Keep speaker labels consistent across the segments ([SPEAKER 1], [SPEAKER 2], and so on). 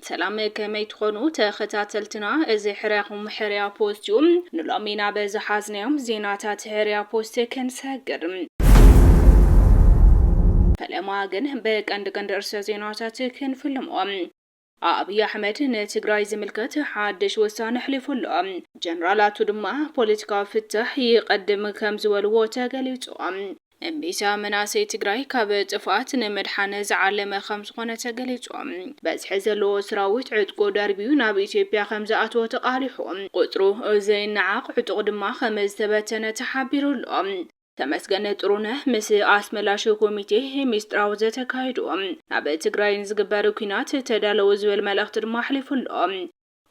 [SPEAKER 1] ሰላም ከመይ ትኾኑ ተኸታተልትና፣ እዚ ሕርያኹም ሕርያ ፖስት እዩ። ንሎሚ ናብ ዝሓዝናዮም ዜናታት ሕርያ ፖስት ክንሰግር ፈለማ ግን ብቀንዲ ቀንዲ ርእሰ ዜናታት ክንፍልሞም ኣብይ ኣሕመድ ንትግራይ ዝምልከት ሓድሽ ውሳነ ኣሕሊፉ ኣሎ። ጀነራላቱ ድማ ፖለቲካዊ ፍታሕ ይቐድም ከም ዝበልዎ ተገሊፁ። እምቢታ መናእሰይ ትግራይ ካብ ጥፍኣት ንምድሓን ዝዓለመ ከም ዝኾነ ተገሊፁ። በዝሒ ዘለዎ ስራዊት ዕጥቁ ደርብዩ ናብ ኢትዮጵያ ከም ዝኣተወ ተቓሊሑ። ቁፅሩ ዘይነዓቕ ዕጡቕ ድማ ከም ዝተበተነ ተሓቢሩ ኣሎ። ተመስገን ጥሩነህ ምስ ኣስመላሽ ኮሚቴ ሚስጥራዊ ዘተካይዱ ናብ ትግራይ ንዝግበር ኩናት ተዳለዉ ዝብል መልእኽቲ ድማ ኣሕሊፉ ኣሎ።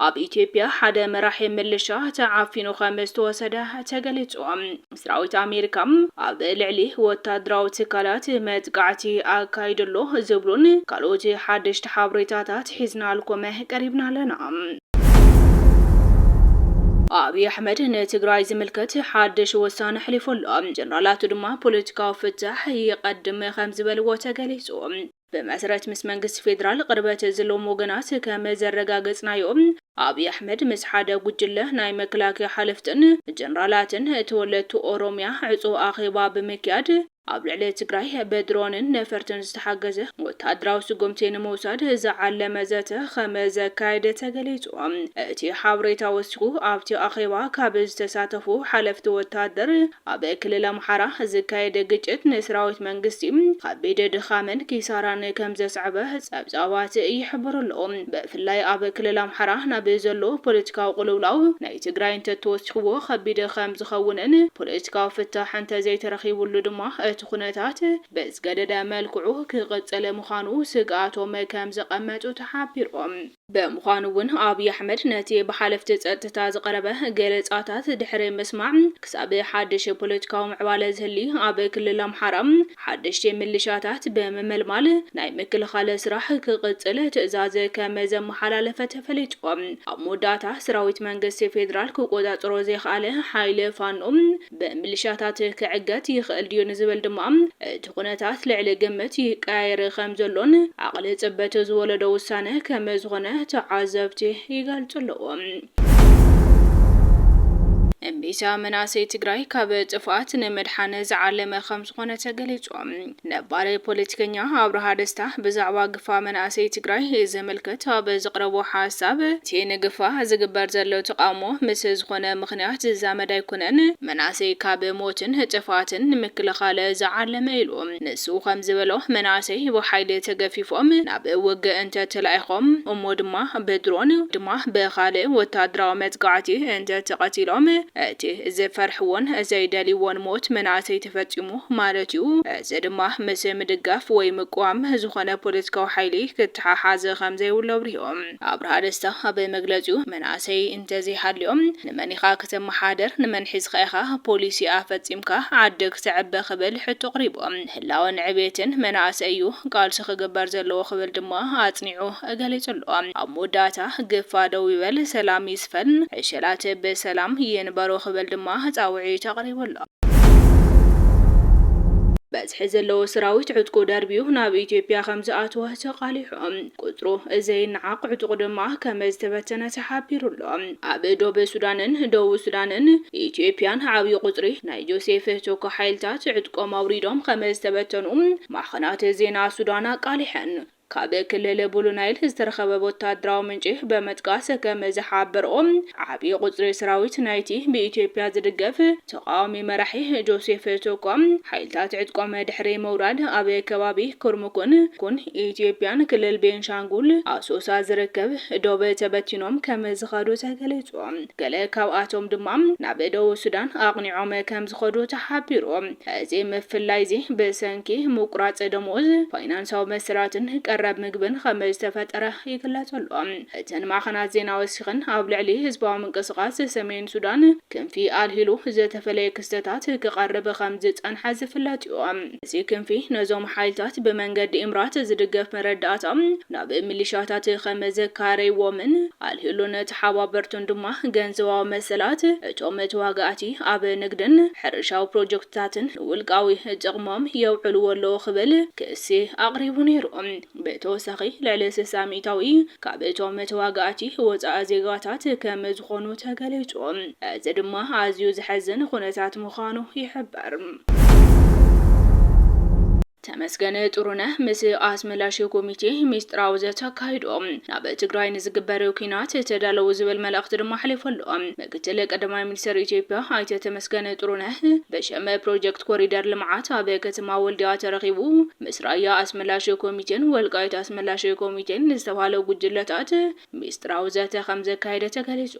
[SPEAKER 1] ኣብ ኢትዮጵያ ሓደ መራሒ ምልሻ ተዓፊኑ ከም ዝተወሰደ ተገሊጹ። ሰራዊት ኣሜሪካ ኣብ ልዕሊ ወታደራዊ ትካላት መጥቃዕቲ ኣካይዱ ኣሎ ዝብሉን ካልኦት ሓደሽቲ ሓበሬታታት ሒዝናልኮመ ቀሪብና ኣለና። ኣብይ ኣሕመድ ንትግራይ ዝምልከት ሓድሽ ውሳነ ኣሕሊፉ ኣሎ። ጀነራላቱ ድማ ፖለቲካዊ ፍታሕ ይቐድም ከምዝበልዎ ተገሊፁ። ብመሰረት ምስ መንግስቲ ፌዴራል ቕርበት ዝለዎም ወገናት ከም ዘረጋገፅናዮ ኣብይ ኣሕመድ ምስ ሓደ ጉጅለ ናይ መከላከያ ሓለፍትን ጀነራላትን ተወለድቲ ኦሮሚያ ዕፁው ኣኼባ ብምክያድ ኣብ ልዕሊ ትግራይ ብድሮንን ነፈርትን ዝተሓገዘ ወተሃደራዊ ስጉምቲ ንምውሳድ ዝዓለመ ዘተ ኸም ዘካየደ ተገሊፁ። እቲ ሓበሬታ ወሲኹ ኣብቲ ኣኼባ ካብ ዝተሳተፉ ሓለፍቲ ወተሃደር ኣብ ክልል ኣምሓራ ዝካየድ ግጭት ንሰራዊት መንግስቲ ኸቢድ ድኻምን ኪሳራን ከም ዘስዐበ ፀብፃባት ይሕብሩ ኣለው። ብፍላይ ኣብ ክልል ኣምሓራ ናብ ዘሎ ፖለቲካዊ ቅልውላው ናይ ንትግራይ እንተተወሲኽዎ ከቢድ ከም ዝኸውንን ፖለቲካዊ ፍታሕ እንተዘይተረኺቡሉ ድማ እቲ ኩነታት ብዝገደደ መልክዑ ክቕፅል ምዃኑ ስግኣቶም ከም ዘቐመጡ ተሓቢሩ። ብምዃኑ እውን ኣብይ ኣሕመድ ነቲ ብሓለፍቲ ፀጥታ ዝቐረበ ገለፃታት ድሕሪ ምስማዕ ክሳብ ሓድሽ ፖለቲካዊ ምዕባለ ዝህሊ ኣብ ክልል ኣምሓራ ሓደሽቲ ምልሻታት ብምምልማል ናይ ምክልኻል ስራሕ ክቕፅል ትእዛዝ ከም ዘመሓላለፈ ተፈሊጡ። ኣብ መወዳእታ ሰራዊት መንግስቲ ፌዴራል ክቆፃፀሮ ዘይኸኣለ ሓይሊ ፋኖ ብምልሻታት ክዕገት ይኽእል ድዩ ንዝብል ድማ እቲ ኩነታት ልዕሊ ግምት ይቀያየር ከም ዘሎን ዓቕሊ ፅበት ዝወለዶ ውሳነ ከም ዝኾነ ተዓዘብቲ ይገልፁ ኣለዉ። እምቢታ መናእሰይ ትግራይ ካብ ጥፍኣት ንምድሓን ዝዓለመ ከምዝኾነ ተገሊፁ። ነባሪ ፖለቲከኛ ኣብርሃ ደስታ ብዛዕባ ግፋ መናእሰይ ትግራይ ዝምልከት ኣብ ዘቕረቦ ሓሳብ እቲ ንግፋ ዝግበር ዘሎ ተቓውሞ ምስ ዝኾነ ምኽንያት ዝዛመድ ኣይኮነን፣ መናእሰይ ካብ ሞትን ጥፍኣትን ንምክልኻል ዝዓለመ ኢሉ። ንሱ ከም ዝበሎ፣ መናእሰይ ብሓይሊ ተገፊፎም ናብ ውግእ እንተ ተላኢኾም፣ እሞ ድማ ብድሮን ወይ ድማ ብኻልእ ወተሃደራዊ መጥቃዕቲ እንተ ተቐቲሎም፣ እቲ ዝፈርሕዎን ዘይደልይዎን ሞት መናእሰይ ተፈጺሙ ማለት እዩ። እዚ ድማ ምስ ምድጋፍ ወይ ምቅዋም ዝኾነ ፖለቲካዊ ሓይሊ ክተሓሓዝ ከም ዘይብሉ ኣብሪሁ። ኣብርሃ ደስታ ኣብ መግለጺኡ፣ መናእሰይ እንተዘይሃልዮም ንመን ኢኻ ክተመሓድር፣ ንመን ሒዝኻ ኢኻ ፖሊሲ ኣፈጺምካ ዓዲ ክተዕቢ ክብል ሕቶ ኣቕሪቡ። ንህላወን ዕብየትን መናእሰይ እዩ ቃልሲ ክግበር ዘለዎ ክብል ድማ ኣጽኒዑ ገሊጹ ኣሎ። ኣብ መወዳእታ፣ ግፋ ደው ይበል፣ ሰላም ይስፈን፣ ዕሸላት ብሰላም ይንበሩ ክብል ድማ ጻውዒት ኣቕሪቡ ኣሎ። በዝሒ ዘለዎ ሰራዊት ዕጥቁ ደርብዩ ናብ ኢትዮጵያ ከምዝኣተወ ተቓሊሑ። ቁጽሩ ዘይነዓቕ ዕጡቕ ድማ ከምዝተበተነ ተሓቢሩ ኣሎ። ኣብ ዶብ ሱዳንን ደቡብ ሱዳንን ኢትዮጵያን ዓብዪ ቁጽሪ ናይ ጆሴፍ ቶካ ሓይልታት ዕጥቆም ኣውሪዶም ከምዝተበተኑ ማዕኸናት ዜና ሱዳን ኣቃሊሐን። ካብ ክልል ቡሉ ናይል ዝተረኸበ ወታደራዊ ምንጪ በምጥቃስ ከምዝሓበርኦ ዓብዪ ቁጽሪ ሰራዊት ናይቲ ብኢትዮጵያ ዝድገፍ ተቓዋሚ መራሒ ጆሴፍ ቶኮ፣ ሓይልታት ዕጥቆም ድሕሪ ምውራድ ኣብ ከባቢ ኩርሙኩን፣ ኩን፣ ኢትዮጵያን ክልል ቤንሻንጉል፣ ኣሶሳ፣ ዝርከብ ዶብ ተበቲኖም ከም ዝኸዱ ተገሊጹ። ገለ ካብኣቶም ድማ ናብ ደቡብ ሱዳን ኣቕኒዖም ከም ዝኸዱ ተሓቢሩ። እዚ ምፍላይ'ዚ ብሰንኪ ምቁራጽ ደሞዝ፣ ፋይናንሳዊ መሰላትን ቀረብ ምግብን ከም ዝተፈጠረ ይግለጽ ኣሎ። እተን ማዕኸናት ዜና ወሲኸን ኣብ ልዕሊ ህዝባዊ ምንቅስቓስ ሰሜን ሱዳን፣ ክንፊ ኣልሂሉ ዝተፈለየ ክስተታት ክቐርብ ከም ዝጸንሐ ዝፍለጥ'ዩ። እዚ ክንፊ ነዞም ሓይልታት ብመንገዲ ኢምራት ዝድገፍ መረዳእታ ናብ ሚሊሻታት ከም ዘካረይዎምን ኣልሂሉን ተሓባበርቱን ድማ ገንዘባዊ መሰላት እቶም ተዋጋእቲ ኣብ ንግድን ሕርሻዊ ፕሮጀክትታትን ንውልቃዊ ጥቕሞም የውዕልዎ ኣለዉ ክብል ክሲ ኣቕሪቡ ነይሩ። ብተወሳኺ ልዕሊ ስሳ ሚኢታዊ ካብ እቶም ተዋጋእቲ ወፃኢ ዜጋታት ከም ዝኾኑ ተገሊፁ። እዚ ድማ ኣዝዩ ዘሕዝን ኹነታት ምዃኑ ይሕበር። ተመስገን ጥሩነህ ምስ ኣስመላሽ ኮሚቴ ሚስጥራዊ ዘተ ኣካይዱ። ናብ ትግራይ ንዝግበር ኲናት ተዳለዉ ዝብል መልእኽቲ ድማ ኣሕሊፉ ኣሎ። ምክትል ቀዳማይ ሚኒስትር ኢትዮጵያ ኣይተ ተመስገን ጥሩነህ ብሽም ፕሮጀክት ኮሪደር ልምዓት ኣብ ከተማ ወልዲያ ተረኺቡ ምስ ራያ ኣስመላሽ ኮሚቴን ወልቃይት ኣስመላሽ ኮሚቴን ንዝተብሃሉ ጉጅለታት ሚስጥራዊ ዘተ ከምዘካየደ ተገሊጹ።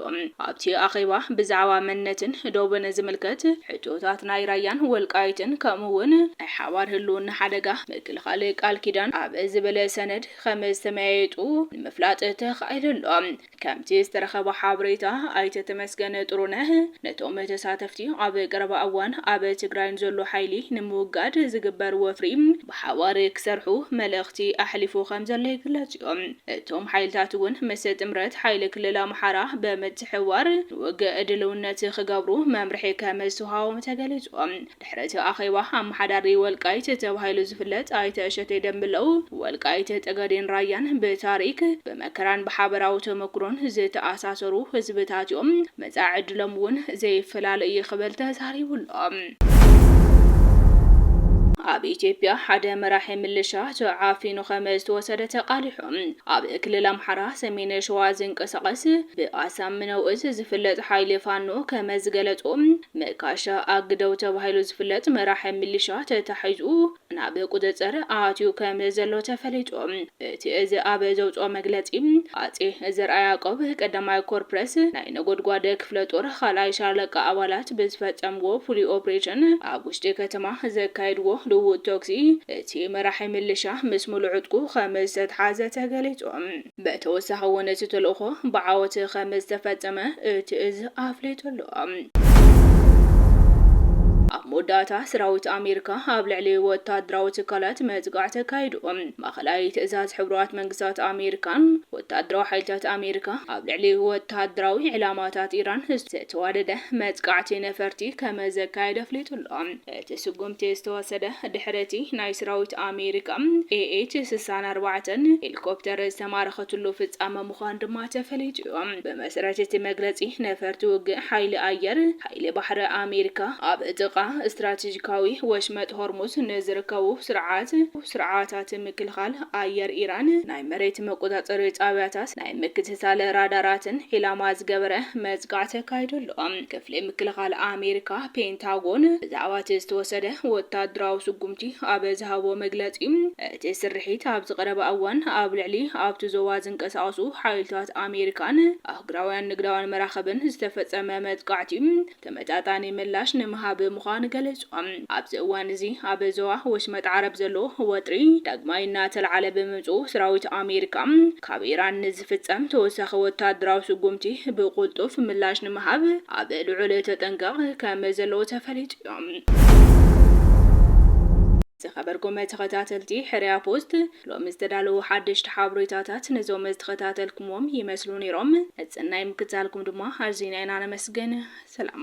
[SPEAKER 1] ኣብቲ ኣኼባ ብዛዕባ መንነትን ዶብን ዝምልከት ሕቶታት ናይ ራያን ወልቃይትን ከምኡ'ውን ናይ ሓባር ህልውና ሓደጋ ምክልኻል ቃል ኪዳን ኣብ ዝብል ሰነድ ከምዝተመያየጡ ንምፍላጥ ተኻኢሉ ኣሎ። ከምቲ ዝተረኸበ ሓበሬታ ኣይተ ተመስገን ጥሩነህ ነቶም ተሳተፍቲ ኣብ ቀረባ እዋን ኣብ ትግራይ ንዘሎ ሓይሊ ንምውጋድ ዝግበር ወፍሪ ብሓባር ክሰርሑ መልእኽቲ ኣሕሊፉ ከምዘሎ ይግለፅ እዩ። እቶም ሓይልታት እውን ምስ ጥምረት ሓይሊ ክልል ኣምሓራ ብምትሕብባር ንውግእ ድልውነት ክገብሩ መምርሒ ከምዝተውሃቦም ተገሊፁ። ድሕሪ እቲ ኣኼባ ኣመሓዳሪ ወልቃይት ተባሂሉ ዝፍለጥ ኣይተ እሸቴ ደምለው፣ ወልቃይት ጠገዴን ራያን ብታሪክ፣ ብመከራን ብሓበራዊ ተመኩሮን ዝተኣሳሰሩ ህዝብታት እዮም፣ መፃኢ ዕድሎም እውን ዘይፈላለ እዩ ክብል ተዛሪቡ ኣሎ። ኣብ ኢትዮጵያ ሓደ መራሒ ምልሻ ተዓፊኑ ከመ ዝተወሰደ ተቓሊሑ። ኣብ ክልል ኣምሓራ ሰሜን ሸዋ ዝንቀሳቐስ ብኣሳምነው እዝ ዝፍለጥ ሓይሊ ፋኖ ከመ ዝገለፆ መካሻ ኣግደው ተባሂሉ ዝፍለጥ መራሒ ሚሊሻ ተታሒዙ ናብ ቁፅፅር ኣትዩ ከም ዘሎ ተፈሊጡ። እቲ እዚ ኣብ ዘውፅኦ መግለፂ ሃፄ ዘርኣያዕቆብ ቀዳማይ ኮር ፕረስ ናይ ነጎድጓድ ክፍለ ጦር ኻልኣይ ሻለቃ ኣባላት ብዝፈፀምዎ ፍሉይ ኦፕሬሽን ኣብ ውሽጢ ከተማ ዘካየድዎ ልውውጥ ተኩሲ እቲ መራሒ ሚሊሻ ምስ ሙሉእ ዕጥቁ ከም ዝተትሓዘ ተገሊፁ። ብተወሳኺ እውን እቲ ተልእኾ ብዓወት ከምዝተፈፀመ እቲ እዝ ኣፍሊጡ ኣሎ። ኣብ መወዳእታ ስራዊት ኣሜሪካ ኣብ ልዕሊ ወታደራዊ ትካላት መጥቃዕቲ ኣካይዱ። ማእኸላይ ትእዛዝ ሕቡራት መንግስታት ኣሜሪካን ወታደራዊ ሓይልታት ኣሜሪካ ኣብ ልዕሊ ወታደራዊ ዒላማታት ኢራን ዝተዋደደ መጥቃዕቲ ነፈርቲ ከመዘካየደ ኣፍሊጡ ኣሎ። እቲ ስጉምቲ ዝተወሰደ ድሕሪ እቲ ናይ ስራዊት ኣሜሪካ ኤኤች ስሳን ኣርባዕተን ሄሊኮፕተር ዝተማረኸትሉ ፍፃመ ምዃኑ ድማ ተፈሊጡ እዩ። ብመሰረት እቲ መግለፂ ነፈርቲ ውግእ ሓይሊ ኣየር ሓይሊ ባሕሪ ኣሜሪካ ኣብ ጥቓ ስትራቴጂካዊ ወሽመጥ ሆርሙዝ ንዝርከቡ ስርዓት ስርዓታት ምክልኻል ኣየር ኢራን ናይ መሬት መቆፃፀሪ ጣብያታት ናይ ምክትታል ራዳራትን ዒላማ ዝገበረ መጥቃዕቲ ኣካይዱ ኣሎ። ክፍሊ ምክልኻል ኣሜሪካ፣ ፔንታጎን፣ ብዛዕባ እቲ ዝተወሰደ ወታደራዊ ስጉምቲ ኣብ ዝሃቦ መግለጺ፣ እቲ ስርሒት ኣብዚ ቀረባ እዋን ኣብ ልዕሊ ኣብቲ ዞባ ዝንቀሳቐሱ ሓይልታት ኣሜሪካን ኣህጉራውያን ንግዳውያን መራኽብን ዝተፈጸመ መጥቃዕቲ ተመጣጣኒ ምላሽ ንምሃብ ምዃኑ ገሊጾም። ኣብዚ እዋን እዚ ኣብ ዞባ ወሽመጥ ዓረብ ዘሎ ወጥሪ ዳግማይ እናተልዓለ ብምምጽኡ፣ ሰራዊት ኣሜሪካ ካብ ኢራን ዝፍጸም ተወሳኺ ወተሃደራዊ ስጉምቲ ብቕልጡፍ ምላሽ ንምሃብ ኣብ ልዑል ተጠንቀቕ ከም ዘለዉ ተፈሊጡ እዩ። ዝኸበርኩም ተኸታተልቲ ሕርያ ፖስት፣ ሎሚ ዝተዳለዉ ሓደሽቲ ሓበሬታታት ነዞም ዝተኸታተልኩምዎም ይመስሉ ነይሮም። ንጽናይ ምክትታልኩም ድማ ኣዚና ኢና ነመስግን። ሰላም።